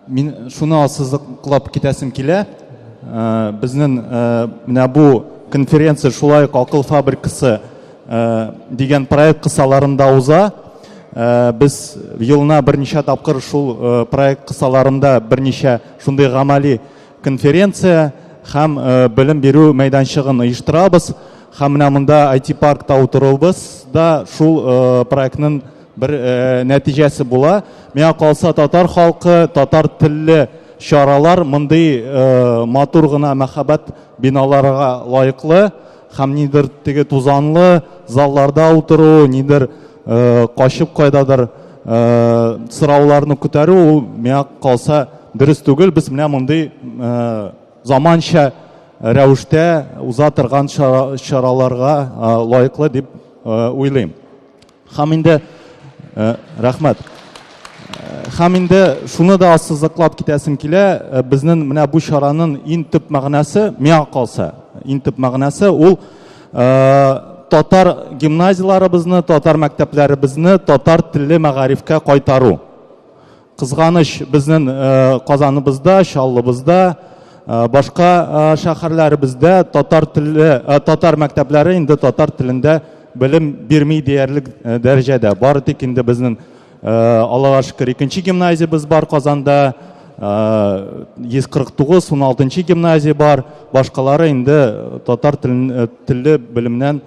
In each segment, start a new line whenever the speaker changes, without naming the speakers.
Мин шуны ассызыклап китәсем килә. Безнең менә бу конференция шулай ук Акыл фабрикасы дигән проект кысаларында уза. Без елына берничә тапкыр шул проект кысаларында берничә шундый гамәли конференция һәм белем бирү мәйданчыгын оештырабыз. Һәм менә монда IT-паркта утыруыбыз да шул проектның Бер э, нәтиҗәсе була. Миңа калса татар халкы, татар телле чаралар мондый э, матур гына мәхәббәт биналарга лайыклы һәм нидер теге тузанлы залларда утыру, нидер э, качып кайдадыр э, сорауларны күтәрү ул миңа калса дөрес түгел. Без менә мондый э, заманча рәвештә уза торган чараларга э, лайыклы дип э, уйлыйм. Хам инде э, рәхмәт. Э, хам инде шуны да ассызыклап китәсем килә, э, безнең менә бу чараның иң төп мәгънәсе, миңа калса, иң төп мәгънәсе ул татар гимназияләребезне, татар мәктәпләребезне татар телле мәгарифкә кайтару. Кызганыч, безнең Казаныбызда, Чаллыбызда, башка шәһәрләребездә татар теле, татар мәктәпләре инде татар телендә белем бирми диярлек дәрәҗәдә. Бары тик инде безнең Аллага шөкер, икенче гимназиябез бар Казанда, 149, 16 гимназия бар, башкалары инде татар теле белемнән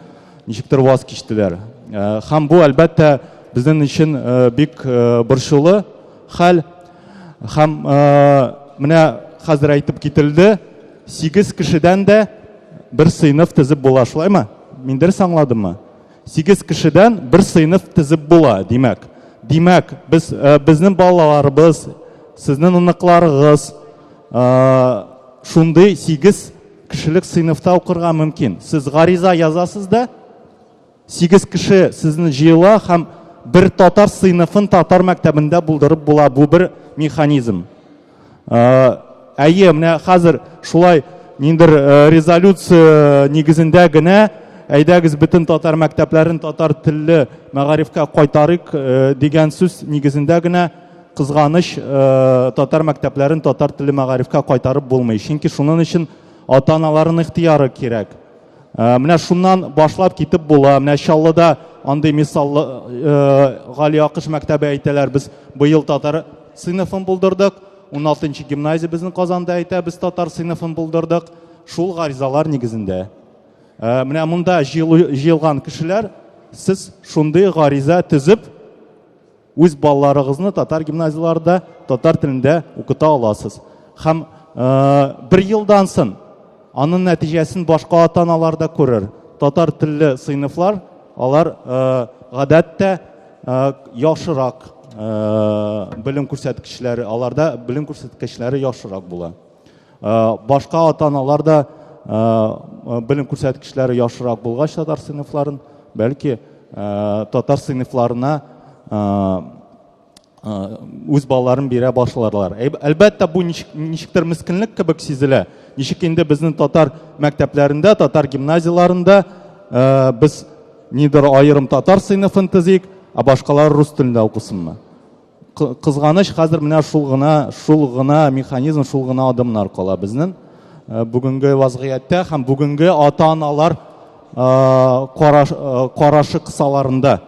Ничектер ваз кичтеләр. Һәм бу, әлбәттә, безнең өчен бик борчулы хәл. Һәм менә хәзер әйтеп кителде, сигез кешедән дә бер сыйныф тезеп була, шулаймы? Мин дөрес аңладыммы? Сигез кешедән бер сыйныф тезеп була, димәк. Димәк, без безнең балаларыбыз, сезнең оныкларыгыз шундый сигез кешелек сыйныфта укырга мөмкин. Сез гариза язасыз да, сигез кеше сезне җыела һәм бер татар сыйныфын татар мәктәбендә булдырып була. Бу бер механизм. Әйе, менә хәзер шулай ниндер резолюция нигезендә генә әйдәгез бөтен татар мәктәпләрен татар телле мәгарифкә кайтарыйк дигән сүз нигезендә генә Кызганыч, татар мәктәпләрен татар теле мәгарифкә кайтарып булмый. Чөнки шуның өчен ата-аналарның ихтияры кирәк. Менә шуннан башлап китеп була. Менә Чаллыда андый мисаллы Гали Акыш мәктәбе әйтәләр. Без быел татар сыйныфын булдырдык. 16 нчы гимназия безнең Казанда әйтә, без татар сыйныфын булдырдык. Шул гаризалар нигезендә. Менә монда җыелган кешеләр, сез шундый гариза төзеп, Үз балаларыгызны татар гимназияләрендә татар телендә укыта аласыз. Һәм бер елдан сон аның нәтиҗәсен башка ата-аналар да күрер. Татар телле сыйныфлар алар гадәттә яхшырак белем күрсәткечләре, аларда белем күрсәткечләре яхшырак була. Башка ата-аналар да белем күрсәткечләре яхшырак булгач татар сыйныфларын, бәлки татар сыйныфларына үз балаларын бирә башларлар. Әлбәттә, бу ничектер мискинлек кебек сизелә. Ничек инде безнең татар мәктәпләрендә, татар гимназияләрендә без нидер аерым татар сыйныфын төзик, ә башкалар рус телендә укысынмы? Кызганыч, хәзер менә шул гына, шул гына механизм, шул гына адымнар кала безнең э, бүгенге вазгыятьтә һәм бүгенге ата-аналар э, карашы кысаларында.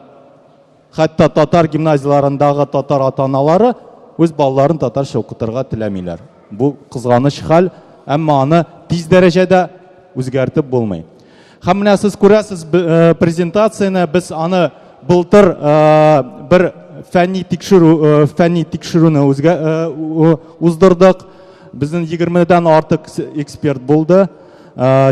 Хәтта татар гимназияләрендәге татар ата-аналары үз балаларын татарча укытырга теләмиләр. Бу кызганыч хәл, әмма аны тиз дәрәҗәдә үзгәртеп булмый. Һәм менә сез күрәсез э, презентацияне, без аны былтыр э, бер фәнни тикшерү э, фәнни тикшерүне үзгә уздырдык. Безнең 20-дән артык эксперт булды.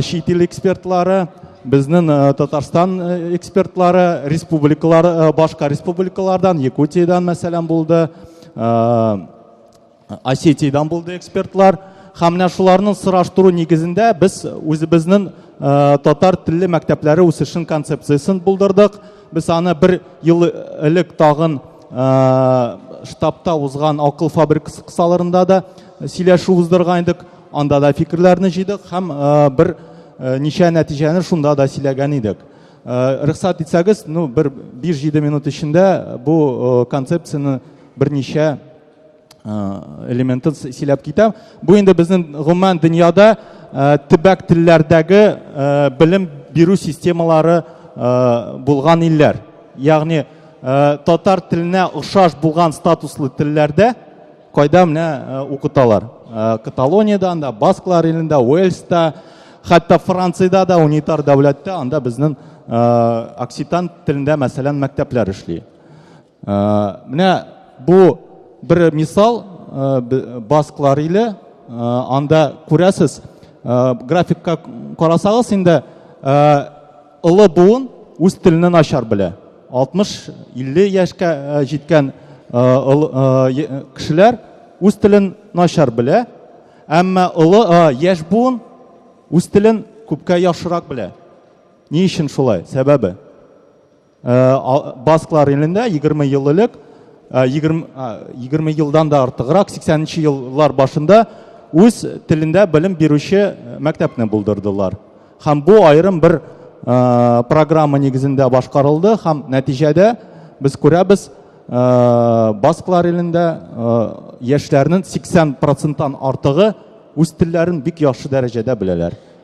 Чит ил экспертлары, безнең Татарстан экспертлары, республикалар башка республикалардан, Якутиядән мәсәлән булды. Осетиядан булды экспертлар. Һәм менә шуларның сораштыру нигезендә без үзебезнең э, татар телле мәктәпләре үсешен концепциясен булдырдык. Без аны бер ел элек тагын э, штабта узган акыл фабрикасы кысаларында да сөйләшү уздырган идек. Анда да фикерләрне җыйдык һәм э, бер ничә нәтиҗәне шунда да сөйләгән идек. Рөхсәт итсәгез, ну бер 5-7 минут эчендә бу концепцияне берничә элементын сөйләп китәм. Бу инде безнең гомумән дөньяда төбәк телләрдәге белем бирү системалары булган илләр. Ягъни татар теленә охшаш булган статуслы телләрдә кайда менә укыталар. Каталониядә, анда Басклар илендә, Уэльста, хәтта Франциядә дә унитар дәүләттә анда безнең окситан телендә мәсәлән мәктәпләр эшли. Менә бу бер мисал басклар иле анда күрәсез графикка карасагыз инде олы буын үз телне начар белә 60-50 яшькә җиткән кешеләр үз телен начар белә әмма олы яшь буын үз телен күпкә яхшырак белә ни өчен шулай сәбәбе Басклар илендә 20 ел элек, 20, 20 елдан да артыграк, 80 еллар башында үз телендә белем бирүче мәктәпне булдырдылар. Һәм бу аерым бер программа нигезендә башкарылды һәм нәтиҗәдә без күрәбез, Басклар илендә яшьләрнең 80 проценттан артыгы үз телләрен бик яхшы дәрәҗәдә беләләр.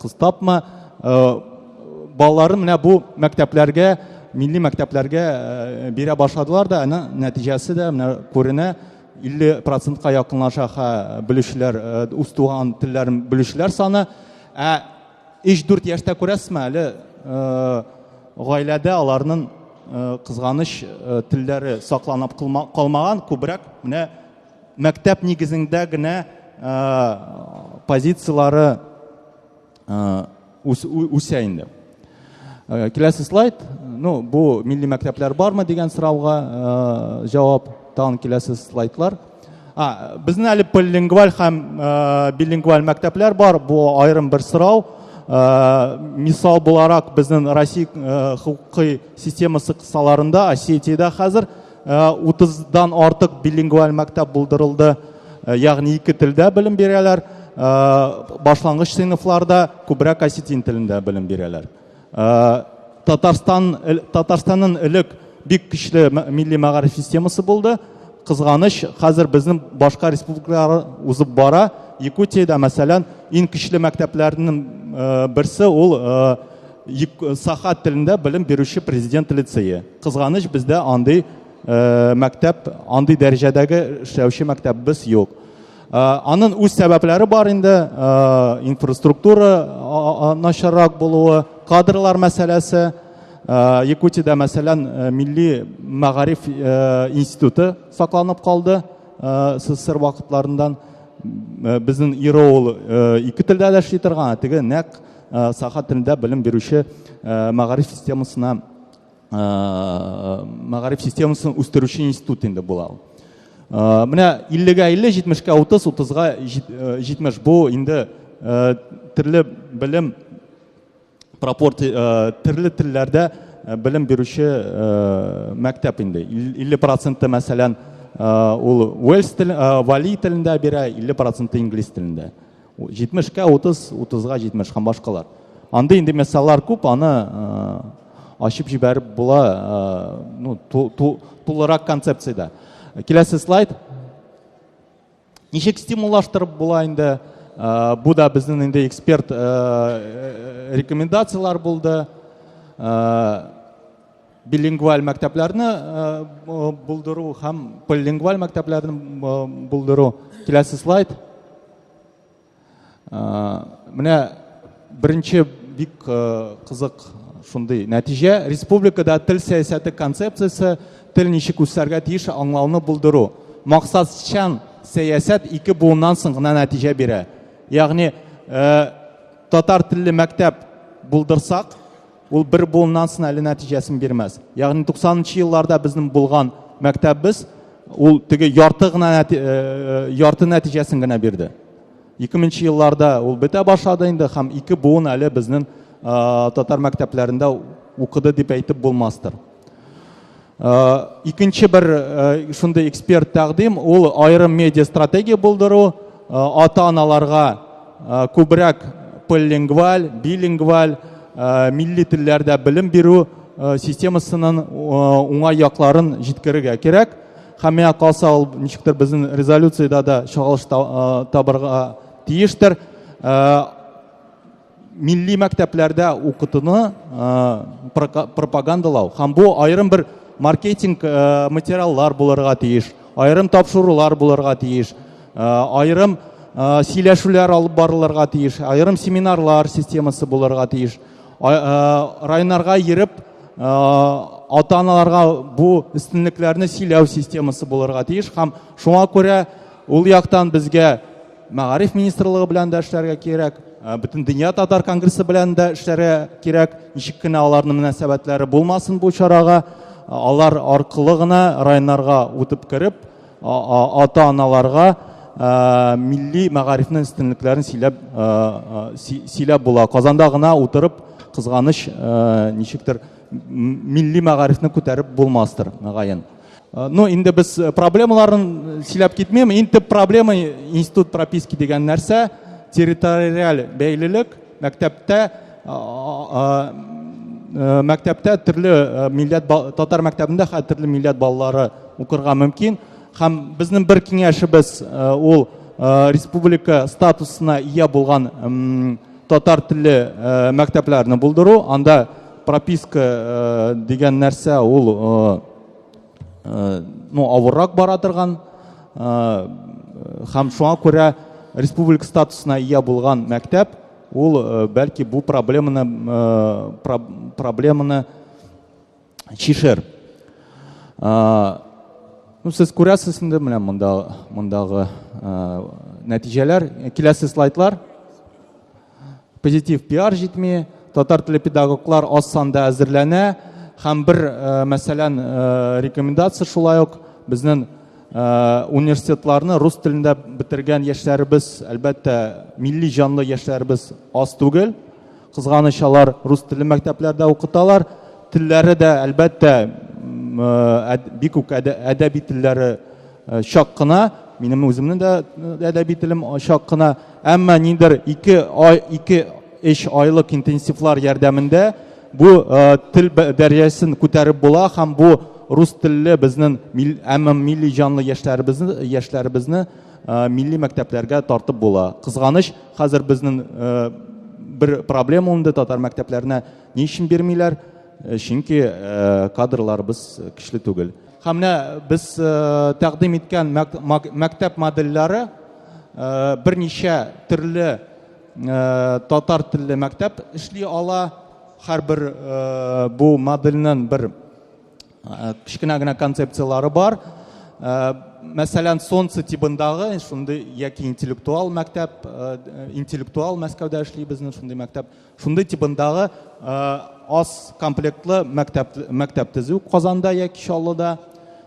Кыз тапма э, балаларын менә бу мәктәпләргә, милли мәктәпләргә э, бирә башладылар да, аны нәтиҗәсе дә менә күренә. 50 процентка якынлаша ха белүчеләр, э, үз туган телләрен белүчеләр саны. Ә 3-4 яшьтә күрәсезме әле э, гаиләдә аларның э, кызганыч э, телләре сакланып калмаган, күбрәк менә мәктәп нигезендә генә позицияләре үсә инде киләсе слайд ну бу милли мәктәпләр бармы дигән сорауга җавап тагын киләсе слайдлар а безнең әле полилингваль һәм билингваль мәктәпләр бар бу аерым бер сорау мисал буларак безнең россия хокукый системасы кысаларында осетиядә хәзер 30-дан э, артык билингваль мәктәп булдырылды, э, ягъни ике телдә белем бирәләр, э, башлангыч сыйныфларда күбрәк осетин телендә белем бирәләр. Татарстан Татарстанның элек бик көчле милли мәгариф системасы булды. Кызганыч, хәзер безнең башка республикалар узып бара. Якутиядә, мәсәлән, иң көчле мәктәпләрнең берсе ул Саха телендә белем бирүче президент лицее. Кызганыч, бездә андый э, мәктәп, андый дәрәҗәдәге эшләүче мәктәбебез юк. Э, Анын үз сәбәпләре бар инде, э, инфраструктура начаррак булуы, кадрлар мәсьәләсе. Э, Якутиядә, мәсәлән, э, милли мәгариф э, институты сакланып калды э, СССР вакытларындан. Э, Безнең Иро ул э, ике телдә дә эшли торган, ә теге нәкъ э, саха телендә белем бирүче э, мәгариф системасына мәгариф системасын үстерүче институт инде була ул менә иллегә илле җитмешкә утыз утызга җитмеш бу инде төрле белем пропорци төрле телләрдә белем бирүче мәктәп инде илле проценты мәсәлән ул уэльс тел вали телендә бирә илле проценты инглиз телендә Җитмешкә утыз, утызга җитмеш һәм башкалар. Андый инде месаллар күп, аны ачып җибәреп була, ну, тулырак концепциядә. Киләсе слайд. Ничек стимуллаштырып була инде? Бу да безнең инде эксперт рекомендацияләр булды. билингваль мәктәпләрне булдыру һәм полилингваль мәктәпләрне булдыру киләсе слайд менә беренче бик кызык шундый нәтиҗә республикада тел сәясәте концепциясе тел ничек үсәргә тиеш аңлауны булдыру максатчан сәясәт ике буыннан соң гына нәтиҗә бирә ягъни татар телле мәктәп булдырсак Ул бер буыннан соң әле нәтиҗәсен бирмәс. Ягъни 90-нчы елларда безнең булган мәктәбебез ул теге ярты гына нәти, э, ярты нәтиҗәсен генә бирде. 2000 елларда ул бетә башлады инде һәм ике буын әле безнең татар мәктәпләрендә укыды дип әйтеп булмастыр. икенче бер шундый эксперт тәкъдим ул аерым медиа стратегия булдыру ата аналарга күбрәк полилингваль билингваль милли телләрдә белем бирү системасының уңай якларын җиткерергә кирәк һәм миңа калса ул ничектер безнең резолюциядә дә чагылыш табырга тиештер милли мәктәпләрдә укытуны пропагандалау һәм бу аерым бер маркетинг материаллар булырга тиеш аерым тапшырулар булырга тиеш аерым сөйләшүләр алып барылырга тиеш аерым семинарлар системасы булырга тиеш районнарга йөреп ата аналарга бу өстенлекләрне сөйләү системасы булырга тиеш һәм шуңа күрә ул яктан безгә Мәгариф министрлыгы белән дә эшләргә кирәк, э, бөтен дөнья татар конгрессы белән дә эшләргә кирәк. Ничек кенә аларның мөнәсәбәтләре булмасын бу чарага, э, алар аркылы гына районнарга үтеп кереп, ата-аналарга э, милли мәгарифнең өстенлекләрен сөйләп сөйләп була. Казанда гына утырып кызганыч ничектер милли мәгарифне күтәреп булмастыр, мәгаен. Ну, инде без проблемаларын сөйләп китмим. Иң төп проблема институт прописки дигән нәрсә, территориаль бәйлелек, мәктәптә мәктәптә төрле милләт татар мәктәбендә хәтерле төрле милләт балалары укырга мөмкин. Һәм безнең бер киңәшебез ул республика статусына ия булган татар телле мәктәпләрне булдыру. Анда Прописка э, дигән нәрсә ул э, э, ну, авыррак бара торган һәм шуңа күрә республика статусына ия булган мәктәп ул бәлки бу проблеманы проблеманы чишер ну сез күрәсез инде менә монда мондагы нәтиҗәләр киләсе слайдлар Позитив пиар җитми, татар теле педагоглар аз санда әзерләнә һәм бер э, мәсәлән э, рекомендация шулай ук безнең э, университетларны рус телендә бетергән яшьләребез әлбәттә милли җанлы яшьләребез аз түгел кызганыч алар рус теле мәктәпләрдә укыталар телләре дә әлбәттә бик үк әдәби телләре Э, чак кына минем үземнең дә э, әдәби телем э, чак кына әмма ниндер ике ай ике эш айлык интенсивлар ярдәмендә бу тел дәрәҗәсен күтәреп була һәм бу рус телле безнең әмма милли җанлы яшьләребезне яшьләребезне милли мәктәпләргә тартып була кызганыч хәзер безнең бер проблема унды татар мәктәпләренә ни өчен бирмиләр чөнки кадрларыбыз көчле түгел Һәм менә без тәкъдим иткән мәктәп модельләре берничә төрле татар телле мәктәп эшли ала. Һәрбер бу модельнең бер кечкенә генә концепцияләре бар. Мәсәлән, Солнце тибындагы шундый яки интеллектуал мәктәп, интеллектуал Мәскәүдә эшли безнең шундый мәктәп. Шундый тибындагы аз комплектлы мәктәп мәктәп төзү Казанда яки Чаллыда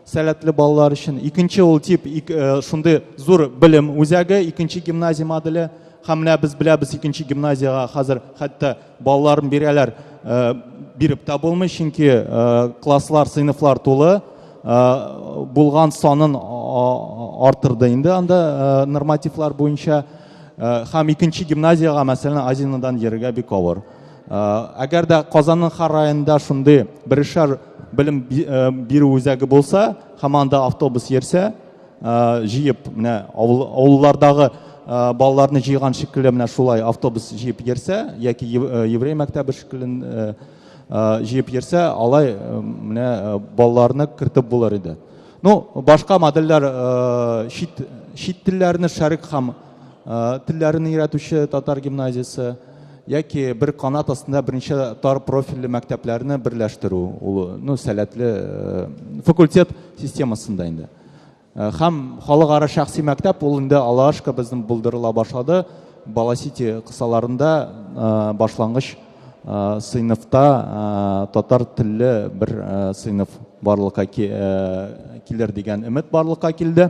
сәләтле балалар өчен. Икенче ул тип шундый зур белем үзәге, икенче гимназия моделе. Һәм менә без беләбез икенче гимназиягә хәзер хәтта балаларын бирәләр, биреп тә булмый, чөнки класслар, сыйныфлар тулы. Булган санын артырды инде анда нормативлар буенча. Һәм икенче гимназиягә, мәсәлән, Азинадан йөрергә бик авыр. Әгәр дә Казанның һәр районында шундый берешәр белем бирү үзәге булса, һәм анда автобус йөрсә, җыеп менә авыллардагы балаларны җыйган шикелле менә шулай автобус җыеп йөрсә, яки еврей мәктәбе шикелле җыеп йөрсә, алай менә балаларны кертеп булыр иде. Ну, башка модельләр э, чит, чит телләрне шәрик һәм э, телләрен өйрәтүче татар гимназиясе яки бер канат астында берничә тар профильле мәктәпләрне берләштерү ул ну сәләтле э, факультет системасында инде һәм халыкара шәхси мәктәп ул инде алашка безнең булдырыла башлады баласити кысаларында башлангыч сыйныфта татар телле бер сыйныф барлыкка килер дигән өмет барлыкка килде.